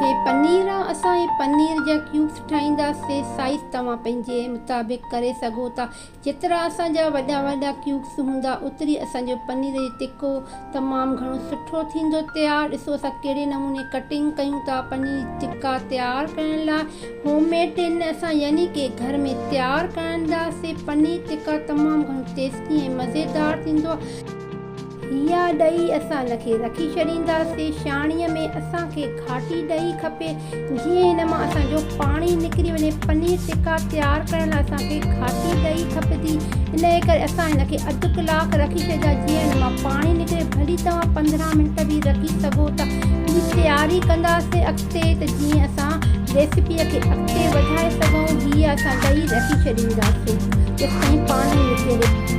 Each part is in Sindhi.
هي پنير آ اسان هي پنير جا ڪيوبس ٺاهيندا سي سائيز توهان پنهنجي مطابق ڪري سگهو ٿا جيترا اسان جا وڏا وڏا ڪيوبس هوندا اوتري اسان جو پنير جو تکو تمام گهڻو سٺو ٿيندو تيار ڏسو اسان ڪهڙي نموني ڪٽنگ ڪيون ٿا پنير تکا تيار ڪرڻ لاء هوم ميڊ ٽين اسان يعني ڪي گهر ۾ تيار ڪرندا سي پنير تکا تمام گهڻو ٽيسٽي ۽ مزيدار ٿيندو آ. هيا ڏئي اسان هن کي رکي ڇڏينداسين شاڻيء ۾ اسان کي گهاٽي ڏئي کپي جيئن هن مان اسان جو پاڻي نڪري وڃي پنير ٽڪا تيار ڪرڻ لاء اسان کي گهاٽي ڏئي کپندي انهيء ڪري اسان هن کي اڌ ڪلاڪ رکي ڇڏيندا جيئن هن مان پاڻي نڪري ڀلي توهان پندرهن منٽ به رکي سگهو ٿا جي تياري ڪنداسين اڳتي ته جيئن اسان ريسيپيء کي اڳتي وڌائي سگهون هيا اسان ڏئي رکي ڇڏينداسين جيستائين پاڻي نڪري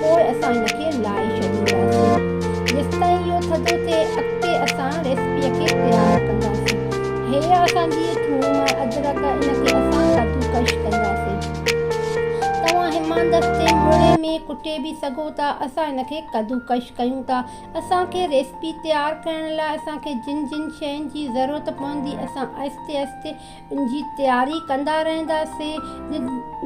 پوء اسان ان کي لائي ڇڏينداسين جيستائين اهو ٿڌو ٿئي اڳتي اسان ريسپيء کي تيار ڪنداسين هيء اسان جي ٿوم ۽ ادرڪ ان کي اسان ڪدوڪش ڪنداسين توهان هماندستي مڙهي ۾ ڪٽي به سگهو ٿا اسان ان کي ڪدوڪش ڪيون ٿا اسان کي ريسپي تيار ڪرڻ لاء اسان کي جن جن شين جي ضرورت پوندي اسان آهستي آهستي ان جي تياري ڪندا رهنداسين.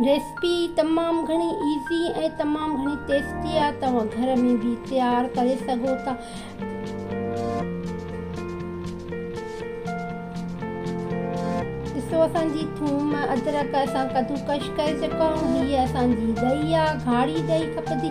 ريسپي تمام گهڻي ايزي ۽ تمام گهڻي ٽيسٽي آهي توهان گهر ۾ به تيار ڪري سگهو ٿا ڏسو اسان جي ٿوم ادرڪ اسان ڪدوڪش ڪري چڪا آهيون هي اسان جي ڏهي آهي گهاڙي ڏهي کپندي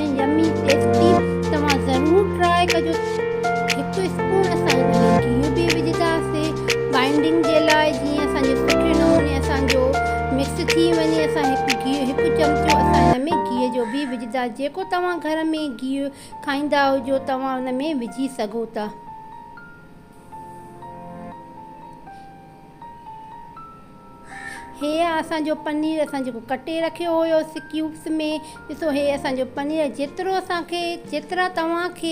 ۽ يمي پيسٽري توهان ضرور ٽرائي ڪجو هڪ اسپون اسان جيئن گيهه به وجهنداسي بائنڊنگ جي لاء جيئن اسان جي سٺي نموني اسان جو مڪس ٿي وڃي اسان هڪ گيهه هڪ چمچو اسان هن ۾ گيهه جو به وجهندا جيڪو توهان گهر ۾ گيهه کائيندا هجو توهان ان ۾ وجهي سگهو ٿا. هيء اسان جو پنير اسان جيڪو ڪٽي رکيو هيوسي ڪيوبس ۾ ڏسو هيء اسان جو پنير جيترو اسان کي جيترا توهان کي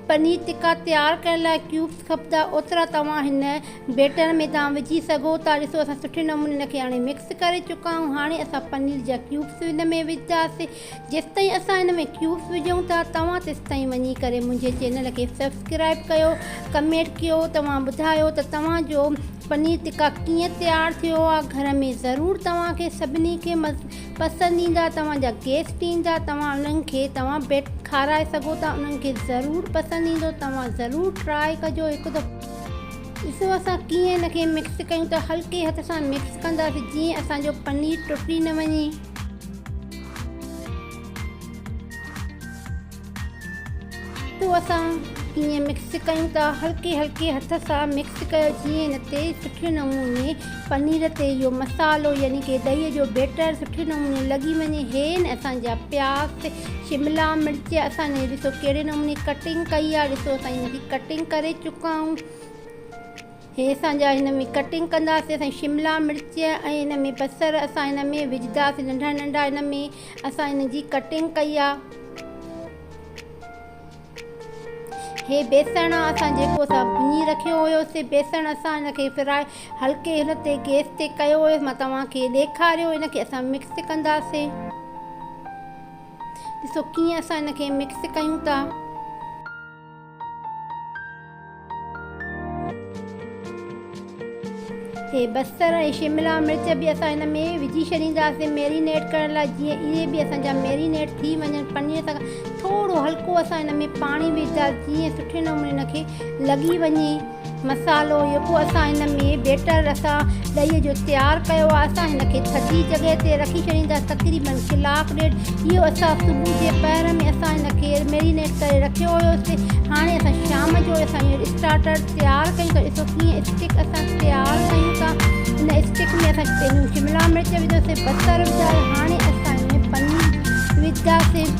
پنير ٽڪا تيار ڪرڻ لاء ڪيوبس کپندا اوترا توهان هن بيٽر ۾ توهان وجهي سگهو ٿا ڏسو اسان سٺي نموني ان کي هاڻي مڪس ڪري چڪا آهيون هاڻي اسان پنير جا ڪيوبس ان ۾ وجهنداسي جيستائين اسان ان ۾ ڪيوس وجهون ٿا توهان تيستائين وڃي ڪري منهنجي چينل کي سبسڪرائب ڪيو ڪمينٽ ڪيو توهان ٻڌايو ته توهان جو پنير ٽڪا ڪيئن تيار ٿيو آ گهر ۾ ضرور توهان کي سڀني کي پسند ايندا توهان جا گيسٽ ايندا توهان انهن کي توهان بيٽ کارائي سگهو ٿا انهن کي ضرور پسند ايندو توهان ضرور ٽرائي ڪجو هڪ دفعو ڏسو اسان ڪيئن ان کي مڪس ڪيون ٿا هلڪي هٿ سان مڪس ڪنداسين جيئن اسان جو پنير ٽٽي نه وڃي. پوء اسان ائين مڪس ڪيون ٿا هلڪي هلڪي هٿ سان مڪس ڪيو جيئن ان تي سٺي نموني پنير تي اهو مصالحو يعني ڪي ڏهي جو بيٽر سٺي نموني لڳي وڃي هي ن اسان جا پياز شملا مرچ اسان ني ڏسو ڪهڙي نموني ڪٽنگ ڪئي آهي ڏسو اسان انهن جي ڪٽنگ ڪري چڪا آهيون هي اسان جا هن ۾ ڪٽنگ ڪنداسين سائين شملا مرچ ۽ هن ۾ بصر اسان هن ۾ وجهداسين ننڍا ننڍا هن ۾ اسان هن جي ڪٽنگ ڪئي آ هي بيسڻ آ اسان جيڪو اسان ڀڃي رکيو هيو سي بيسڻ اسان هن کي فرائي هلڪي هن تي گيس تي ڪيو هيو مان توهان کي ڏيکاريو هن کي اسان مڪس ڪنداسين ڏسو ڪيئن اسان هن کي مڪس ڪيون ٿا اهي بصر ۽ شملا مرچ به اسان هن ۾ وجهي ڇڏينداسين ميرينيٽ ڪرڻ لاء جيئن اهي به اسان جا ميرينيٽ ٿي وڃن پنير سان ٿورو هلڪو اسان هن ۾ پاڻي وجهنداسين جيئن سٺي نموني ان کي لڳي وڃي مصالحو يڪو اسان هن ۾ بيٽر اسان ڏهي جو تيار ڪيو آهي اسان هن کي ٿڌي جڳهه تي رکي ڇڏينداسين تقريبن ڪلاڪ ڏيڍ اهو اسان صبح جي پهر ۾ اسان هن کي ميرينيٽ ڪري رکيو هيوسي هاڻي اسان شام جو اسان اهو اسٽارٽر تيار ڪيون ٿا ڏسو ڪيئن اسٽڪ اسان تيار ڪيون ٿا ان اسٽڪ ۾ اسان پهريون شملا مرچ وڌوسي بصر وڌائي هاڻي اسان ان ۾ پنير وجهنداسين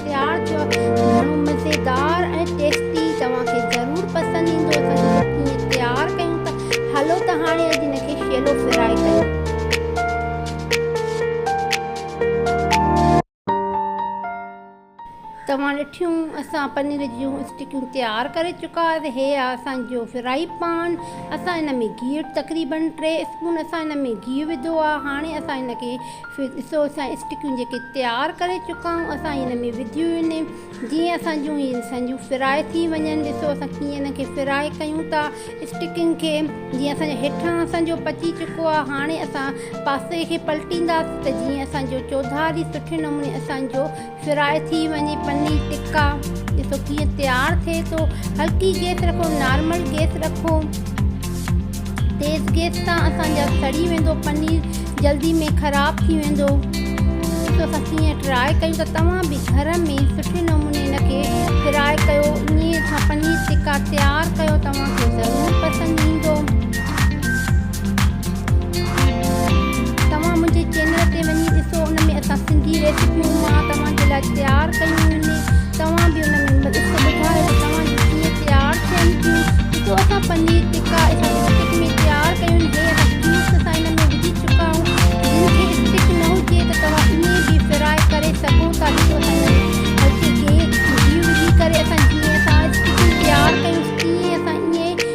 تيار ٿيو آهي گهڻو مزيدار ۽ ٽيسٽي توهان کي ضرور پسند ايندو اسان جو سڀ ڪيئن تيار ڪيون ٿا هلو ته هاڻي اڄ هن کي شيلو فرائي ڪيون. توهان ڏٺيون اسان پنير جون اسٽڪيون تيار ڪري چڪا هيا هي آهي اسان جو فرائي پان اسان ان ۾ گيهه تقريبن ٽي اسپون اسان ان ۾ گيهه وڌو آهي هاڻي اسان هن کي ڏسو اسان اسٽڪيون جيڪي تيار ڪري چڪا آهيون اسان ان ۾ وڌيون آهن جيئن اسان جون هي اسان جون فرائي ٿي وڃن ڏسو اسان ڪيئن ان کي فرائي ڪيون ٿا اسٽڪين کي جيئن اسان جا هيٺان اسان جو پچي چڪو آهي هاڻي اسان پاسي کي پلٽينداسين ته جيئن اسان جو چوڌاري سٺي نموني اسان جو فرائي ٿي وڃي پني ٽڪا ڏسو ڪيئن تيار ٿئي ٿو هلڪي گيس رکو نارمل گيس رکو تيز گيس تان اسان جا سڙي ويندو پنير جلدي ۾ خراب ٿي ويندو ڏسو اسان ڪيئن ٽرائي ڪيون ته توهان به گهر ۾ سٺي نموني ان کي فرائي ڪيو انهي سان پنير ٽڪا تيار ڪيو توهان کي ضرور پسند ايندو توهان منهنجي چينل تي وڃي ڏسو ان ۾ اسان سنڌي ريسيپيون مان توهان جي لاء تيار ڪيون آهن توهان به ان ۾ ڏسي ٻڌايو ته توهان جون ڪيئن تيار ٿين ٿيون ڏسو اسان پنير ٽڪا اسان اسٽڪ ۾ تيار ڪيون آهن هي اسان ڪيوبس اسان ان ۾ وجهي چڪا آهون جن کي اسٽڪ نه هجي ته توهان ائين به فرائي ڪري سگهو ٿا ڏسو اسان ان ۾ هلڪي گهي وجهي ڪري اسان جيئن اسان اسٽڪون تيار ڪيون تيئن اسان ائين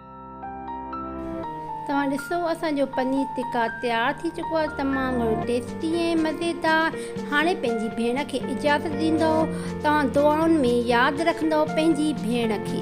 توهان ڏسو اسان جو پنير ٽڪا تيار ٿي چڪو آهي تمام گهڻو ٽيسٽي ۽ مزيدار هاڻي پنهنجي ڀيڻ کي اجازت ڏيندو توهان دعائن ۾ ياد رکندو پنهنجي ڀيڻ کي